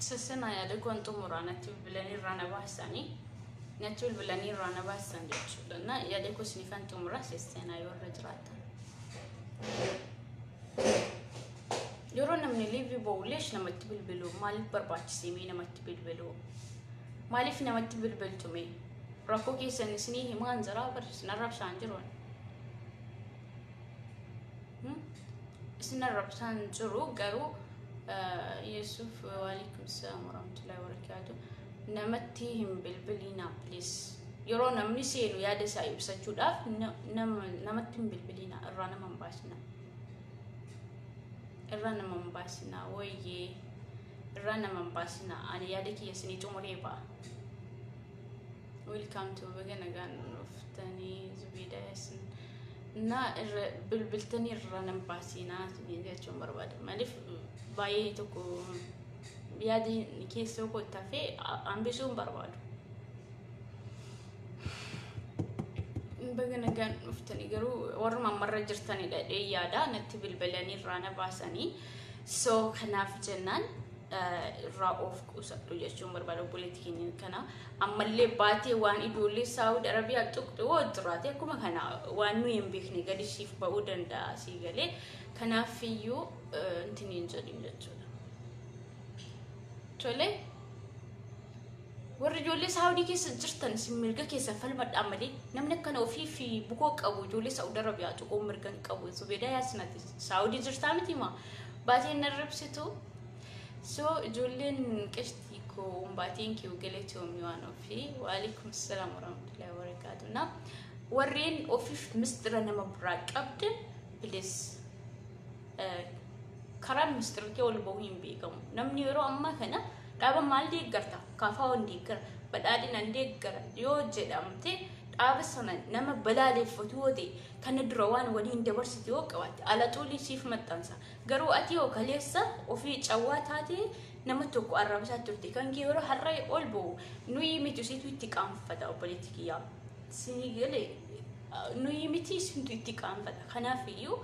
Sassanaa yaada kuwan xumuraa natti bilbilanii irraa na baasanii natti bilbilanii irraa na baasan jechuudha. Na yaada kuwa sinifan xumuraa sassanaa yoo irra jiraatan. Yeroo namni liivii ba'u leesh namatti bilbilu maaliif barbaachisee mee namatti bilbilu maaliif namatti bilbiltu mee rakkoo keessan isinii himaan jiraa bar isin arrabsaan jiru ani. Hmm? isin arrabsaan jiru garuu eh, Yesuuf waalaikum salaam warahmatullahi wabarakaatu namatti hin bilbiliinaa please yeroo namni seenu yaada isaa ibsachuudhaaf na- nama- namatti hin bilbiliinaa irraa nama hin baasinaa irraa nama hin baasinaa wooyyee irraa nama hin baasinaa ani yaada kiyya isinii xumuree ba'a welcome to baga nagaan dhuftanii zubeeda yasin na irra bilbiltanii irraa nama hin baasinaa isiniin jechuun barbaada maaliif baay'ee tokko yaada keessoo koo tafee hambisuu hin barbaadu Baga nagaan dhuftanii garuu warruma ammarra jirtanidha jedhee yaada natti bilbilanii irraa na baasanii so kanaaf jennaan eh, irraa of qusadhu jechuun barbaada obboleetti keenya kana ammallee baatee waan ijoollee saawud arabiyaa tuqxu yoo jiraate akkuma kana waan nuyi hin beekne gadi siif ba'uu danda'a sii galee kanaaf iyyuu eh, intini hin jedhin jechuudha. Tolee. Warri ijoollee Saawudii keessa jirtan isin mirga keessa falmadhaa malee namni akkana ofii fi bukoo qabu ijoollee Saawud Arabiyaa tuquu mirga hin qabu. Zubeedaa Yaasinati Saawudii jirtaa miti maa baateen na ribsitu. So ijoolleen qishtii koo umbaatiin kiu galatoomii waan ofii. Waalikum salaam warahmatullahi wabarakaatu. Na warreen ofiif mistira nama biraa qabdan bilis karaan mistira kee ol bahuu hin beekamu. Namni yeroo ammaa kana Dhaaba maal deeggarta? KFOn deeggara, badhaadhinan deeggara yoo jedhamte dhaaba sana nama balaaleeffatu yoo ta'e kana dura waan waliin dabarsite yoo qabaatte alaxuulii siif maxxansa. Garuu ati yoo kaleessa ofii cawwaa taate nama tokko arrabsaa turte kan kee yeroo har'a ol ba'u nuyi miti usiitu itti qaanfata obboleetti kiyyaa. Sinii galee nuyi miti isintu itti qaanfata. Kanaaf iyyuu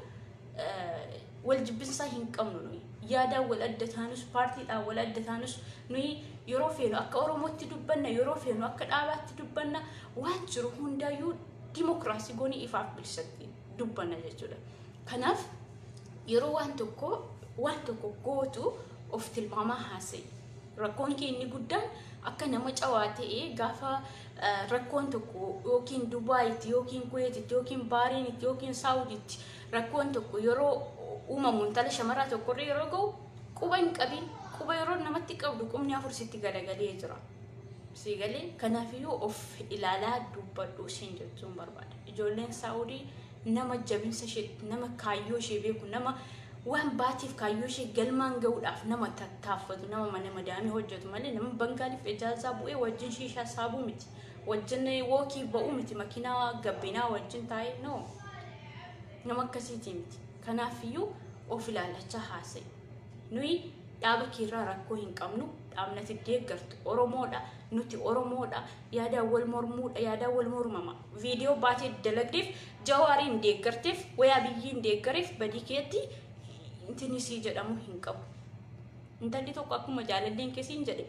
wal jibbinsaa hin qabnu nuyi yaadaan wal adda taanus paartiidhaan wal adda taanus nuyi yeroo feenu akka oromootti dubbanna yeroo feenu akka dhaabaatti dubbanna waan jiru hundaayyuu dimokiraasii goonii ifaaf bilisatti dubbanna jechuudha. Kanaaf yeroo waan tokko waan tokko gootu of tilmaamaa haasa'e Rakkoon kee inni guddaan akka nama cawaa ta'e gaafa rakkoon tokko yookiin Dubaayitti yookiin Kuweetitti yookiin Baariinitti yookiin Saawuditti rakkoon tokko yeroo uumamu intala shamaraa tokkorra yeroo ga'u quba hin qabin quba yeroo namatti qabdu qubni afur sitti galagalee jira. Sii galee kanaafiyyuu of ilaalaa dubbadhu siin jechuun barbaada. Ijoolleen Saawudii nama jabinsa ishee nama kaayyoo ishee beeku nama waan baatiif kaayyoo ishee galmaan ga'uudhaaf nama tattaaffatu nama mana madaamii hojjetu malee nama bangaaliif ijaazaa bu'ee wajjin shiishaa saabuu miti wajjin wookii ba'uu miti makiinaa gabbinaa wajjin taa'ee no nama akkasiitii miti kanaafiyyuu of ilaalachaa haasa'e nuyi dhaaba keerraa rakkoo hin qabnu dhaabnati deeggartu oromoodha nuti oromoodha yaadaan wal mormuudha yaadaan wal mormama Viidiyoo baatee dalagdeef jawaariin deeggarteef wayaa biyyiin deeggareef badii keetti intinni sii jedhamu hin qabu. Intalli tokko akkuma jaalalleen kesiin jedhe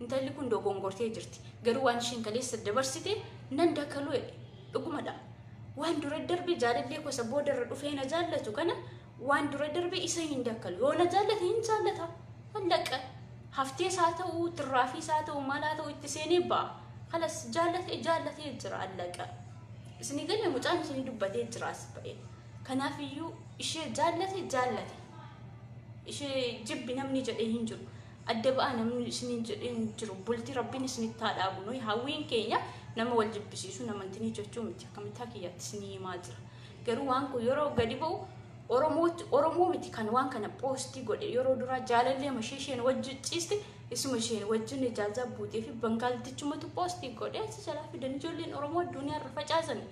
intalli kun dogongortee jirti. Garuu waan isheen kaleessa dabarsite nan dakaluu jedhe dhugumadha. Waan dura darbe jaalallee kosa boodarra dhufee na jaallatu kana Waan dura darbe isa hin dakkalu. Yoo na jaallate hin jaallata. Allaqa. Haftees haa ta'u, tirraafiis haa ta'u, maal haa ta'u itti seenee ba'a. Kalas jaallate jaallatee jira allaqa. Isinii galee mucaan isinii dubbatee jira as ba'e. Kanaaf iyyuu ishee jaallate jaallate. Ishee jibbi namni jedhee hin jiru. Adda ba'a namni isiniin jedhee hin jiru. Bultii rabbiin isinitti haa dhaabu. Nuyi hawwiin keenya nama wal jibbisiisu namantinii jechuu miti. Akkamittaa kiyyaatti isinii himaa jira. Garuu waan kun yeroo gadi ba'u Oromootti Oromoo miti kan waan kana poostii godhe yeroo duraa jaalallee mashee isheen wajjin ciiste isuma isheen wajjin ijaazaa buutee fi bangaaltichumatu poostii godhe achi jalaa fidan ijoolleen Oromoo addunyaa irra facaasani.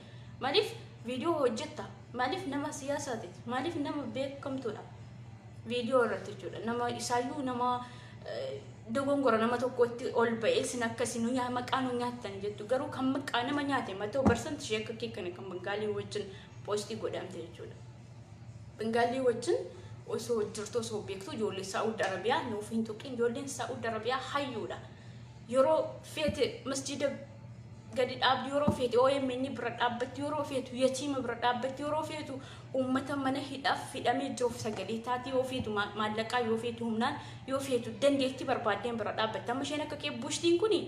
Maaliif viidiyoo hojjetta? Maaliif nama siyaasaati? Maaliif nama beekamtuudha? Viidiyoo irratti jechuudha. Nama isaayyuu nama dogongora nama tokkotti ol ba'ee sin akkasi nu nyaa maqaa nu nyaattan jettu garuu kan maqaa nama nyaate matoo barsanti ishee akka kee kana kan bangaalii wajjin poostii godhamte jechuudha. Bangaalii wajjin osoo jirtu osoo beektu ijoollee Saa'ud Arabiyaa nuuf hin tuqin ijoolleen Saa'ud Arabiyaa hayyuudha. Yeroo feete masjiida gadi dhaabdi yeroo feete OMN bira dhaabbatti yeroo feetu yatiima bira dhaabbatti yeroo feetu Uummata mana hidhaaf hidhamee jiruuf sagalee taati. Yoo feetu maallaqaan, yoo feetu humnaan, yoo feetu dandeettii barbaaddeen bira dhaabbatta. Amma isheen akka kee bushtiin kuni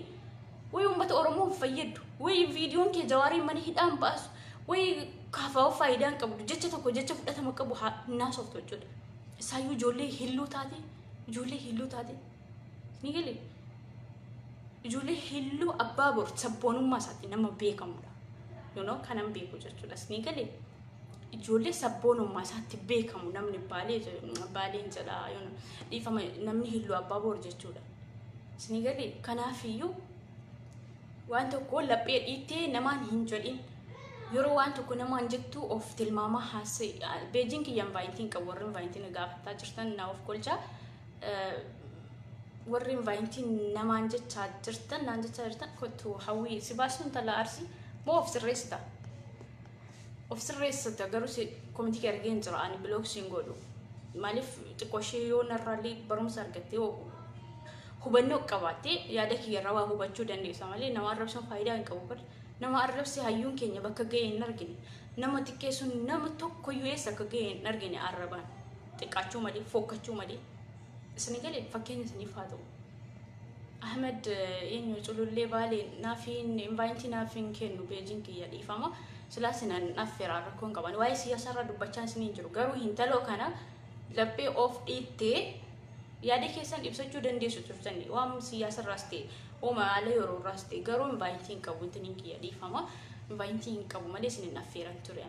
way uummata Oromoo hin fayyaddu. Way viidiyoon kee jawaariin mana hidhaan baasu. Way kaafaa'oo faayidaa hin qabdu. Jecha tokko jecha fudhatama qabu haa hin haasoftu jechuudha. Isaayyuu ijoollee hilluu taate, ijoollee hilluu taate. Ni galee? ijoollee hilluu abbaa bor sabboonummaa isaatti nama beekamudha. Yoonoo kanan beeku jechuudha. Isni galee? ijoollee sabboonummaa isaatti beekamu namni baalee jedhu- baaleen jedha yoona dhiifama namni hilluu abbaa boor jechuudha. Isinii galee kanaafiyyuu waan tokko laphee dhiittee namaan hin jedhin yeroo waan tokko namaan jettu of tilmaamaa haasa'e beejiin kiyya invaayintiin qabu warri invaayintiin na gaafataa jirtan naa of kolchaa Eh, warri invaayintiin namaan jechaa jirtan naan jechaa jirtan kottu hawwii si baasuun tala arsii moo of sirreessita Of sirreessita garuu si komiti kee argee hin jira ani biloog siin godhu maaliif xiqqoo ishee yoo narraallee barumsa argattee yoo hubannoo qabaattee yaada kiyyarraa waa hubachuu dandeessa malee nama arrabsuun faayidaa hin qabu bar nama arrabse hayyuun keenya bakka ga'e hin argine nama xiqqeessuun nama tokkoyyuu eessa akka ga'e hin argine arrabaan xiqqaachuu malee fokkachuu malee isin galee fakkeenya isiniif haa ta'u. Ahmed eenyu culullee baalee naaf hin invaayitii naaf hin kennu peejiin kiyya dhiifama silaa sinan affeera rakkoo hin qaban waa'ee siyaasaarraa dubbachaa isin hin jiru garuu hintaloo kana laphee of dhiittee yaada keessan ibsachuu dandeessu turtanii waan siyaasarraas ta'e uuma haala yeroorraas ta'e garuu invaayitii hin qabu intiniin kiyya dhiifama invaayitii hin qabu malee isin hin affeeran ture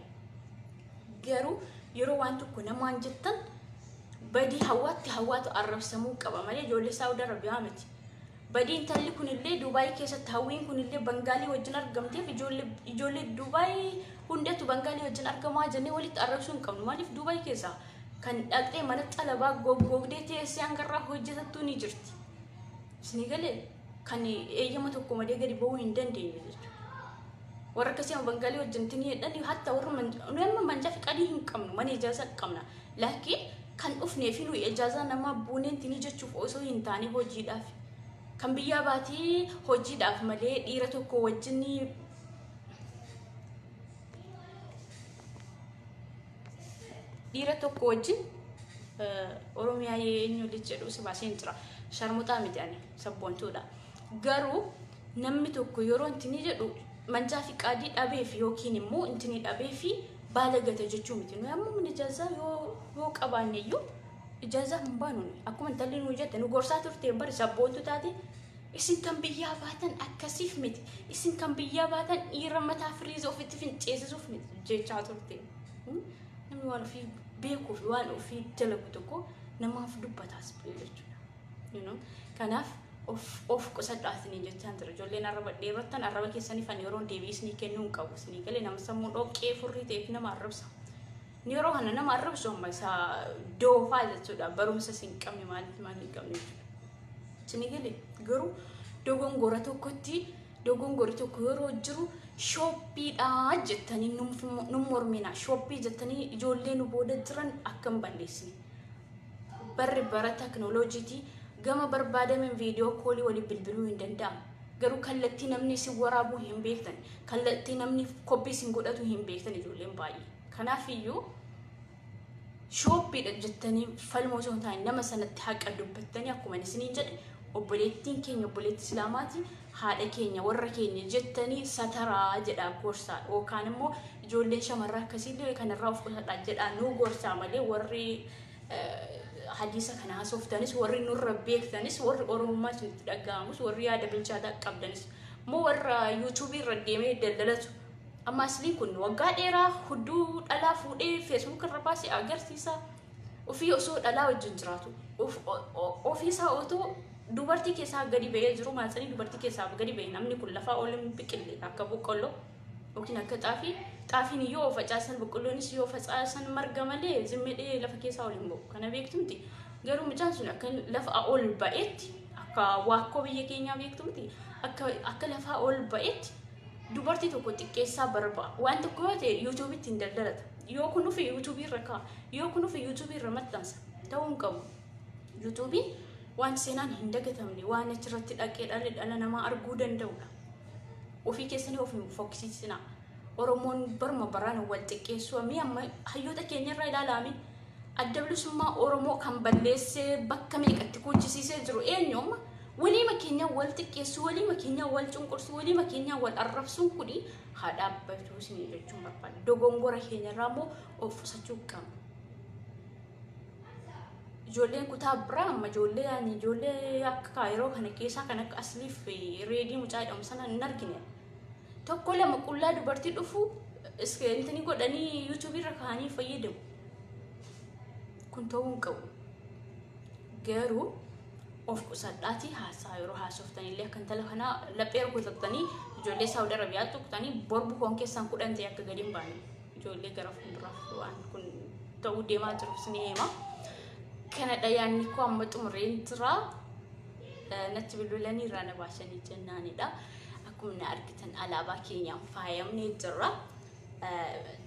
Garuu yeroo waan tokko namaan jettan badii hawaatti hawaatu arrabsamuu qaba malee ijoollee Saawud Arabiyaa miti. Badii intalli kunillee Duubaay keessatti hawwiin kunillee Bangaalii wajjin argamteef ijoollee ijoollee Duubaay hundatu Bangaalii wajjin argamaa jennee walitti arrabsuu hin qabnu. Maaliif Duubaay keessa kan dhaqxee mana xalabaa goggoogdee teessee hangarraa hojjetattuu ni jirti. Isinii galee? kan eeyyama tokko malee gadi ba'uu hin dandeenye jechuudha. Warra akkasii amma bangalee wajjin tinii jedhanii hatta warra nuyi amma manjaa fiqadii hin qabnu mana ijaazaa qabna. Laakiin kan dhufnee fi nuyi ijaazaa namaa buuneen tinii jechuuf osoo hin taane hojiidhaaf. Kan biyyaa baatii hojiidhaaf malee dhiira tokko wajjin dhiira tokko wajjin oromiyaa eenyu lij jedhu si baaseen jira sharmuxaa miti ani sabboontuudha garuu namni tokko yeroo intini jedhu manjaa fi qaadii dhabeef yookiin immoo intini dhabee fi baala gate jechuu miti nuyi amma mana ijaazaa yoo yoo qabaanne iyyuu ijaazaa hin baanu akkuma intalli nu jette nu gorsaa turte bari sabboontu taate Isin kan biyyaa baatan akkasiif miti. Isin kan biyyaa baatan dhiira mataa firiiza ofitti finceesisuuf miti jechaa turte. Hmm? Namni waan ofii beekuu fi waan ofii dalagu tokko namaaf dubbataas jechuudha. You know? Kanaaf of, of qusadhaa isinii jechaan ture. Ijoolleen arraba dheerottan arraba keessaniif ani yeroon deebii isinii kennuu hin qabu. Isinii galee nama sammuu dhoqqee furrii ta'eef nama arrabsa. Yeroo kana nama arrabsu amma isa doofaa jechuudha. Barumsa isin hin qabne maaliif maal hin qabne jechuudha. Isin gale garuu dogongora tokkotti dogongori tokko yeroo jiru shooppiidha jettanii nu mormina. Shooppii jettanii ijoollee nu booda jiran akka hin balleessine. Barri bara teknooloojiitii gama barbaadameen viidiyoo koolii waliin bilbiluu hin danda'amu. Garuu kallattii namni isin waraabuu hin beektan. Kallattii namni koppii isin godhatu hin beektan ijoolleen baay'ee. Kanaafiyyuu shooppiidha jettanii falmoo osoo hin taane nama sanatti haqa dubbattanii akkuma isiniin jedhe obboleettiin keenya obboleetti islaamaati haadha keenya warra keenya jettanii sataraa jedha gorsaa yookaan immoo ijoolleen shamarraa akkasiillee kanarraa of qusadha jedha nuu gorsaa malee warri hadiisa kana haasoftanis warri nurra beektanis warri oromummaa isinitti dhaga'amus warri yaada bilchaataa qabdanis immoo warra yuutuubii irra deemee daldalatu Amma aslii kun waggaa dheeraa hudduu dhalaa fuudhee feesbuuk irra baasee agarsiisa. Ofii osoo dhalaa wajjin jiraatu. Of- o- o- Ofii isaa otoo dubartii keessaa gadi ba'ee jiru maatsanii dubartii keessaa gadi ba'e namni kun lafaa ol hin biqille akka boqqolloo yookiin akka xaafii. Xaafiin yoo facaasan boqqolloonis yoo facaasan marga malee zimmedhee lafa keessaa ol hin ba'u. Kana beektumti. Garuu mucaan sun akka lafa ol ba'etti akka waakkoo biyya keenyaa beektumti akka akka lafaa ol ba'etti Dubartii tokko xiqqeessaa barba. Waan tokko yoo ta'e YouTube ittiin daldalata. Yoo kun dhufe YouTube irra ka'a. Yoo kun dhufe YouTube irra maxxansa. Ta'uu hin qabu. YouTube waan seenaan hin dagatamne waan achirratti dhaqee dhalli dhala namaa arguu danda'udha. Ofii keessanii of hin fokkisiisinaa. Oromoon barma baraan wal xiqqeessuu amma hayyoota keenyarraa ilaalaame. Adda bilisummaa Oromoo kan balleessee bakka meeqatti kuuchisiisee jiru eenyuuma? Waliima keenya wal xiqqeessu, waliima keenya wal cunqursu, waliima keenya wal arrabsuun kuni haa dhaabbatuu isinii jechuun barbaada. Dogongora keenyarraa immoo of qusachuu qabna. Ijoolleen kutaa biraa amma ijoollee ani ijoollee akka yeroo kana keessaa kan akka asliif reedii mucaa jedhamu sana hin argine. tokko lama qullaa dubartii dhufu intini godhanii yuutuubii irra kaa'anii fayyadamu. Kun ta'uu hin qabu. Garuu of qusadhaatii haasaa yeroo haasoftan illee akka intala kanaa laphee rukutatanii ijoollee Saawud Arabiyaa tuqtanii borbu koon keessaan kudhan ta'e akka gadi hin baane ijoollee gara fuulduraaf waan kun ta'uu deemaa jiru isin hima. Kanadha yaanni koo amma xumureen jira. natti bilbilanii irraa na baasanii jennaanidha. Akkuma na argitan alaabaa keenyaan faayamnee jirra.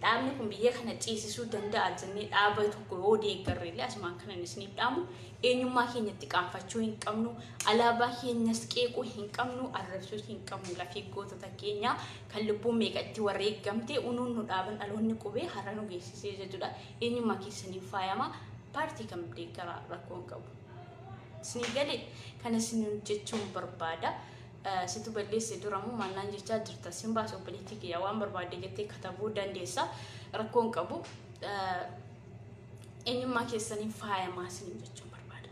Dhaabni kun biyya kana ceesisuu danda'a jennee dhaaba tokko yoo deeggarre illee asumaan kanan isiniif dhaamu eenyummaa keenya itti qaanfachuu hin qabnu alaabaa keenyas qeequu hin qabnu arrabsuu hin qabnu lafee gootota keenya kan lubbuun meeqa itti wareegamtee unuun nu dhaaban dhaloonni qubee har'a nu geessisee jechuudha eenyummaa keessaniin faayama paartii kam deeggaraa rakkoo hin qabu. Isinii galee kana isiniin jechuun barbaada. Situ balleesse duramoo maallaan jechaa jirta. Sin baasa obboleettii kiyya waan barbaadde jettee katabuu dandeessa. Rakkoon qabu eenyummaa keessaniin faayamaa isiniin jechuun barbaada.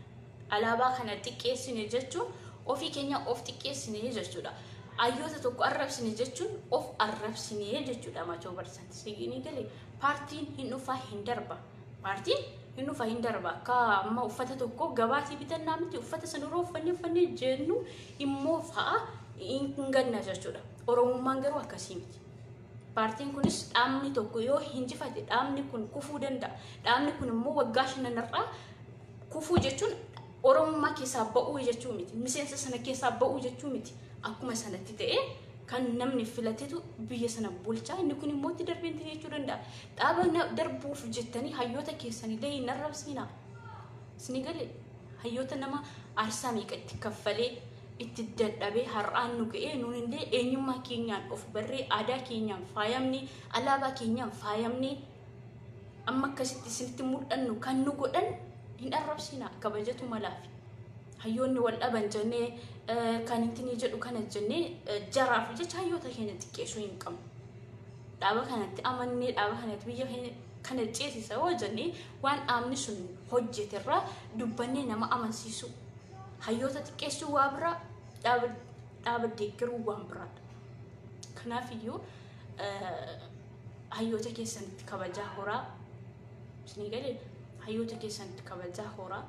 Alaabaa kana xiqqeessine jechuun ofii keenya of xiqqeessine jechuudha. Ayyoota tokko arrabsine jechuun of arrabsine jechuudha. Maachoo barsan isinii galee paartiin hin dhufaa hin darba. Maartiin hin dhufa hin darba akka amma uffata tokko gabaatii bitannaa miti uffata san yeroo uffanne uffanne jennu immoo fa'a hin ganna jechuudha. Oromummaan garuu akkasii miti. Paartiin kunis dhaabni tokko yoo hinjifate dhaabni kun kufuu danda'a. Dhaabni kun immoo waggaa shananarraa kufuu jechuun Oromummaa keessaa ba'uu jechuu miti. Miseensa sana keessaa ba'uu jechuu miti. Akkuma sanatti ta'ee kan namni filatetu biyya sana bulchaa inni kun immoo itti darbee itti jechuu danda'a. Dhaaba na- darbuuf jettanii hayyoota keessanillee hin arrabsiina. Isinii galee hayyoota nama aarsaa meeqa itti kaffalee itti dadhabee har'aan nu ga'ee nuunillee eenyummaa keenyaan of barree aadaa keenyaan faayamnee alaabaa keenyaan faayamnee amma akkasitti isinitti mul'annu kan nu godhan hin arrabsiina kabajatu malaafi. hayyoonni wal dhaban jennee eh, kan ittiin jedhu kana jennee eh, jaraaf jecha hayyoota keenya xiqqeessuu hin qabnu. Dhaaba kanatti amannee dhaaba kanatti biyya keenya kana ceesisa yoo jennee waan dhaabni sun hojjeterraa dubbannee nama amansiisu. Hayyoota xiqqeessuu waa biraa dhaaba dhaaba deeggaruu waan biraadha. Kanaaf iyyuu eh, hayyoota keessanitti kabajaa horaa isinii galee hayyoota keessanitti kabajaa horaa.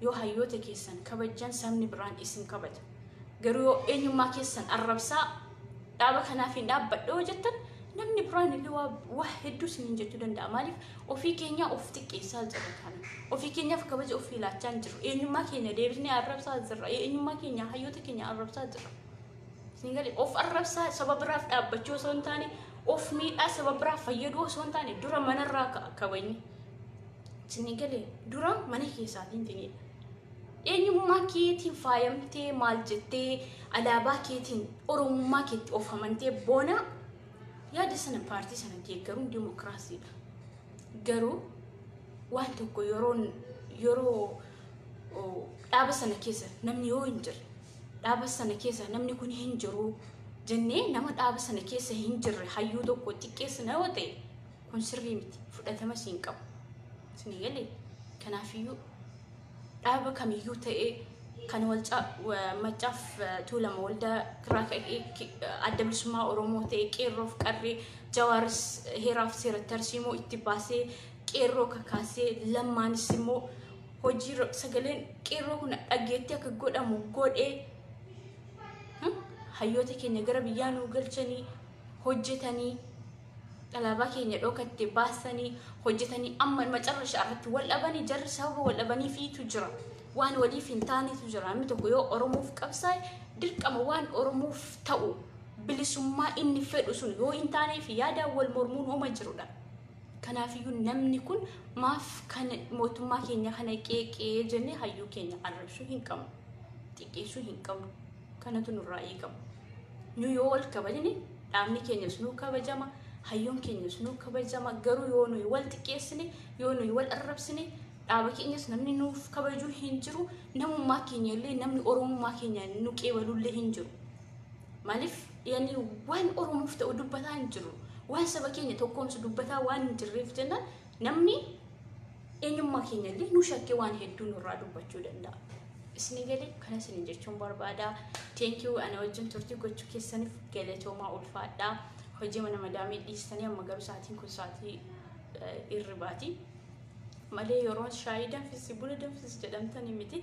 Yoo hayyoota keessan kabajjan sabni biraan isin kabaja. Garuu yoo eenyummaa keessan arrabsaa dhaaba kanaaf hin dhaabbadha yoo jettan namni biraan illee waa, waa hedduu isiniin jechuu danda'a. Maaliif ofii keenya of xiqqeessaa jirra kana. Ofii keenyaaf kabaja ofii laachaa hin jirru. Eenyummaa keenya deebisnee arrabsaa jirra. Eenyummaa keenya hayyoota keenya arrabsaa jirra. Isin galee of arrabsaa saba biraaf dhaabbachuu osoo hin taane of miidhaa saba biraaf fayyaduu osoo hin taane dura manarraa ka'a kabajni. Sinni galee dura mana keessaatiin ta'edha. Eenyummaa keetiin faayamtee maal jettee alaabaa keetiin oromummaa keetti of amantee boona yaada sana paartii sana deeggaruun dimokiraasiidha. Garuu waan tokko yeroo yeroo oo, dhaaba sana keessa namni yoo hin jirre dhaaba sana keessa namni kun hin jiru jennee nama dhaaba sana keessa hin jirre hayyuu tokko xiqqeessina yoo ta'e Kun sirrii miti. Fudhatamas hin qabu. Isin galee? Kanaafiyyuu dhaaba kamiyyuu ta'ee kan walcaa maccaaf tuulama waldaa kiraa ka'ee adda bilisummaa Oromoo ta'ee qeerroof qarree jawaaris heeraaf seera tarsiimoo itti baasee qeerroo kakaasee lammaanis immoo hojii sagaleen qeerroo kun dhageetti akka godhamu godhee hayyoota keenya gara biyyaa nuu galchanii hojjetanii Alaabaa keenya dhokatte baasanii hojjetanii amma macarrashaa irratti wal dhabanii jarri sababa wal dhabaniifiitu jira. Waan waliif hin taanetu jira. Namni tokko yoo Oromoof qabsaa'e dirqama waan Oromoof ta'u bilisummaa inni fedhu sun yoo hin taaneef yaadaan wal mormuun hooma jirudha. Kanaafiyyuu namni kun maaf kan mootummaa keenya kana qeeqee jennee hayyuu keenya arrabsuu hin qabnu. Xiqqeessuu hin qabnu. kanatu nurraa eegama. Nu yoo wal kabajne dhaabni keenyas nuu kabajama, hayyoon keenyas nuu kabajama. Garuu yoo nuyi wal xiqqeessine, yoo nuyi wal arrabsine dhaaba keenyas namni nuuf kabajuu hin jiru. Namummaa keenya illee namni oromummaa keenya nu qeebaluu illee hin jiru. Maaliif yani waan oromoof ta'u dubbataa hin jiru. Waan saba keenya tokkoomsu dubbataa waan hin jirreef jennaan Namni eenyummaa keenya illee nu shakkee waan hedduu nurraa dubbachuu danda'a. Isin galee kana isin jechuun barbaada. Thank you ana wajjin turtii gochuu keessaniif galatoomaa ulfaadhaa. Hojii mana madaamii dhiistanii amma garuu sa'aatiin kun sa'aatii eh, irribaati. malee yeroo shaayii danfisi buna danfisi jedhamtanii miti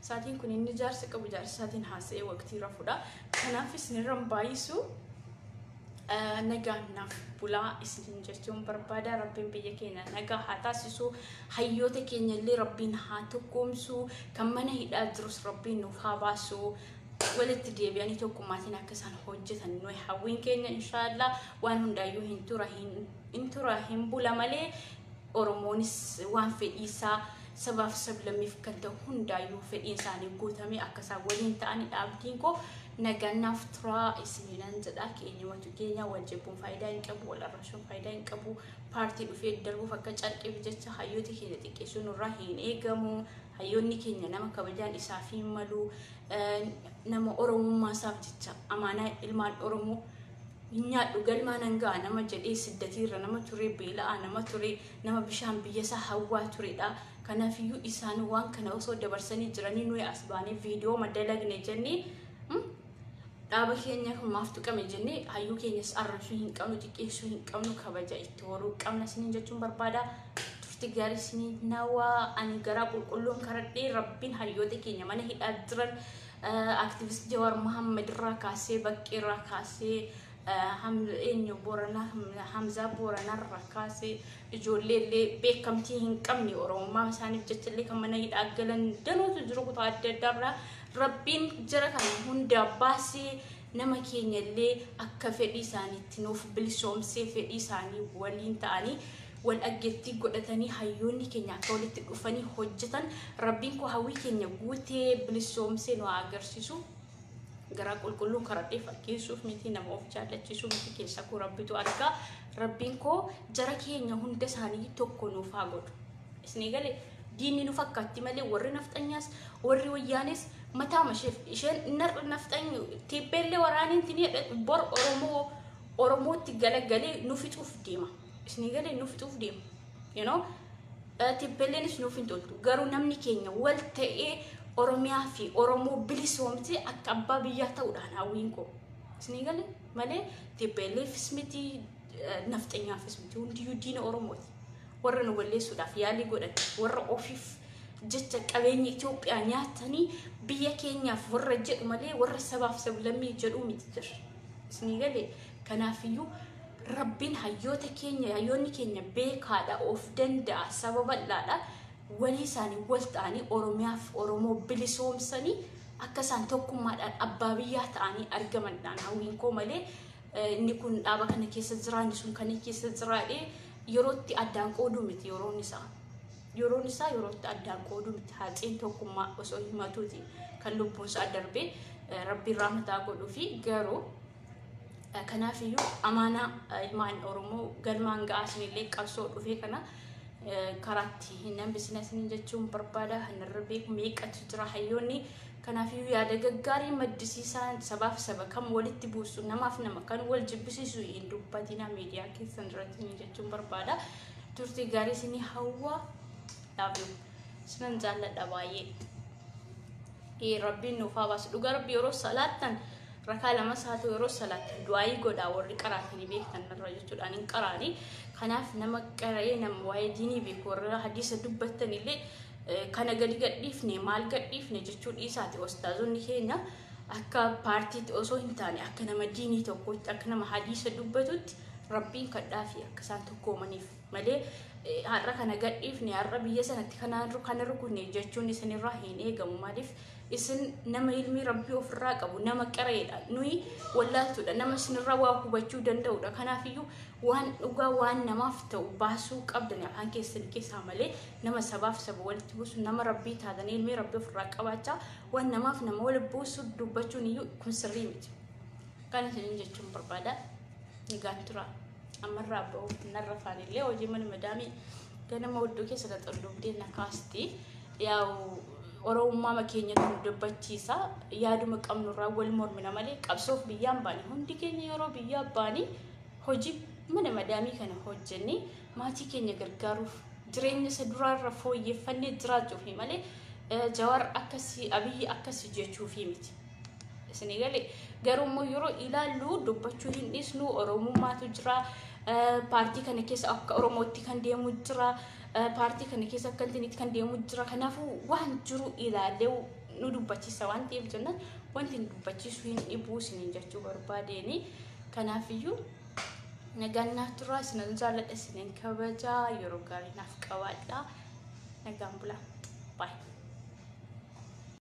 sa'aatiin kun inni jaarsa qabu jaarsa isaatiin haasa'ee waqtii rafudha kanaaf isinirra hin baay'isu nagaan naaf bulaa isiniin jechuun barbaada rabbiin biyya keenya nagaa haa taasisu hayyoota keenya illee rabbiin haa tokkoomsu kan mana hidhaa jirus rabbiin nuuf haa baasu walitti deebi'anii tokkummaatiin akka isaan hojjetan nuyi hawwiin keenya inshaallah waan hundaayyuu hin tura hin tura hin bula malee Oromoonis waan fedhii isaa sabaaf sablammiif kan ta'u hundaayyuu fedhiin isaanii guutamee akka isaan waliin ta'anidha abdiin koo. Nagaan naaf turaa isiniinan jedha. Keenyumatu keenya wal jibbuun faayidaa hin qabu, wal arrabsuun faayidaa hin qabu. Paartii dhufee darbuuf akka carqiif jecha hayyoota keenya xiqqeessuu nurraa hin eegamu. Hayyoonni keenya nama kabajaan isaaf hin malu. Nama Oromummaa isaaf jecha amaanaa ilmaan Oromoo hin nyaadhu galmaa nan ga'a nama jedhee siddatiirra nama turee beela'aa nama turee nama bishaan biyyasaa hawwaa turedha. Kanaafiyyuu isaan waan kana osoo dabarsanii jiranii nuyi as baanee viidiyoo madalagne jennee hmm, dhaaba keenya kun maaf tuqame jennee hayyuu keenyas arrabsuu hin qabnu xiqqeessuu hin qabnu kabaja itti horuu qabna isiniin jechuun barbaada. Turti gaarii isiniin nawaa ani garaa qulqulluun karadhee rabbiin hayyoota keenya mana hidhaa jiran Activist Jawar Mohammed irraa kaasee baqqee irraa kaasee eenyu Booranaa Hamzaa Booranaa irraa kaasee ijoollee illee beekamtii hin qabne Oromummaa isaaniif jecha illee kan mana hidhaa galan danuutu jiru kutaa adda addaa irraa rabbiin jara kana hundaa baasee Nama keenya illee akka fedhii isaaniitti nuuf bilisoomsee fedhii isaanii waliin ta'anii wal dhaggettii godhatanii hayyoonni keenya akka walitti dhufanii hojjetan Rabbiin koo hawwii keenya guutee bilisoomsee nu haa agarsiisu. Garaa qulqulluun karadhee fakkeessuuf miti nama of jaallachiisuu miti keessa koo Rabbitu argaa. Rabbiin koo jara keenya hunda isaanii tokko nuuf haa godhu. Isnii galee? Diinni nu fakkaatti malee warri nafxanyaas warri wayyaanis mataa masheef isheen nar- nafxanyu tiibbeellee waraaniin tinii bor Oromoo Oromootti galagalee nu fixuuf deema. Isinii galee nu fixuuf deema. You know? Eh, Tiibbeelleenis nuuf hin toltu. Garuu namni keenya wal ta'ee Oromiyaa fi Oromoo bilisoomsee akka abbaa biyyaa ta'uudhaan hawwiin koo. Isinii galee malee tiibbeelleefis miti eh, nafxanyaafis miti hundiyyuu diina Oromooti. warra nu balleessuudhaaf yaalii godhan warra ofiif jecha qabeenya Itoophiyaa nyaatanii biyya keenyaaf warra jedhu malee warra sabaaf sablammii jedhuu miti jirra. Isinii galee kanaafiyyuu rabbiin hayyoota keenya hayyoonni keenya beekaadha of danda'a saba bal'aadha walii isaanii wal ta'anii Oromiyaaf Oromoo bilisoomsanii akka isaan tokkummaadhaan abbaa biyyaa ta'anii argamandhaan hawwiin koo malee Inni kun dhaaba kana keessa jira, inni sun kana keessa jira jedhee yerootti addaan qooduu miti yeroon isaa. Yeroon isaa yerootti addaan qooduu miti haaxeen tokkummaa osoo himatuuti kan lubbuun isaa darbee eh, rabbiin rahmataa godhuu fi garuu eh, kanaafiyyuu amaanaa eh, ilmaan Oromoo galmaan ga'aa isinillee qabsoo dhufee kana eh, karaatti hin hambisina isin jechuun barbaada. Hanarra beeku meeqatu jira hayyoonni Kanaafiyyuu yaada gaggaarii maddisiisaan sabaaf saba kan walitti buusu namaaf nama kan wal jibbisiisu hin dubbatina miidiyaa keessan irratti ni jechuun barbaada. Turtii gaarii isinii hawwa. Love you. Isinan jaalladha baay'ee. Ee rabbiin nuuf haa baasu. Dhugaa rabbi yeroo salaattan rakaa lamas haa ta'u yeroo salaattan du'aayii godhaa warri qaraatanii beektan irra jechuudha. Ani hin qaraani. Kanaaf nama qara'ee nama waa'ee diinii beeku warra hadiisa dubbattan illee Kana gadi gadhiifne maal gadhiifne jechuu dhiisaati ostaazonni keenya akka paartiitti osoo hin taane akka nama diinii tokkotti akka nama hadiisa dubbatutti rabbiin kadhaa fi akka isaan tokkoomaniif malee har'a kana gadhiifne har'a biyya sanatti kana rukunne jechuun isinirraa hin eegamu maaliif isin nama ilmii rabbii ofirraa qabu nama qireedha nuyi wallaaltuudha nama isinirraa waa hubachuu danda'udha kanaafiyyuu waan dhugaa waan namaaf ta'u baasuu qabdani afaan keessan keessaa malee nama sabaaf saba walitti buusu nama rabbii taatanii ilmee rabbii ofirraa qabaachaa waan namaaf nama walitti buusu dubbachuun iyyuu kun sirrii miti. Kan isiniin jechuun barbaada nagaan tura ammarraa ba'uuf narra faanillee hojii mana madaamii ganama oddoo keessa xaxxolluubdee na kaasti yaa'u oromummaa keenya nu dubbachiisa yaaduma qabnurraa wal mormina malee qabsoof biyyaan baane hundi keenya yeroo biyyaa baanii hojii mana madaamii kana hojjennee maatii keenya gargaaruuf jireenya isa duraarra fooyyeffannee jiraachuufi malee eh, Jawaar akkasii Abiyyi akkasii jechuufi miti. Isinii galee garuu immoo yeroo ilaallu dubbachuu hin dhiisnu Oromummaatu jira. eh, Paartii kana keessa akka Oromootti kan deemu jira. eh, Paartii kana keessa akka Altiniitti kan deemu jira. Kanaafuu waan jiru ilaallee nu dubbachiisa waan ta'eef jennaan wanti nu dubbachiisu hin dhibu isiniin jechuu barbaadeeni. Kanaafiyyuu Nagaan naaf turaa isinan jaalladha isinan kabajaa yeroo gaarii naaf qabaadha. Nagaan bulaa. Bye.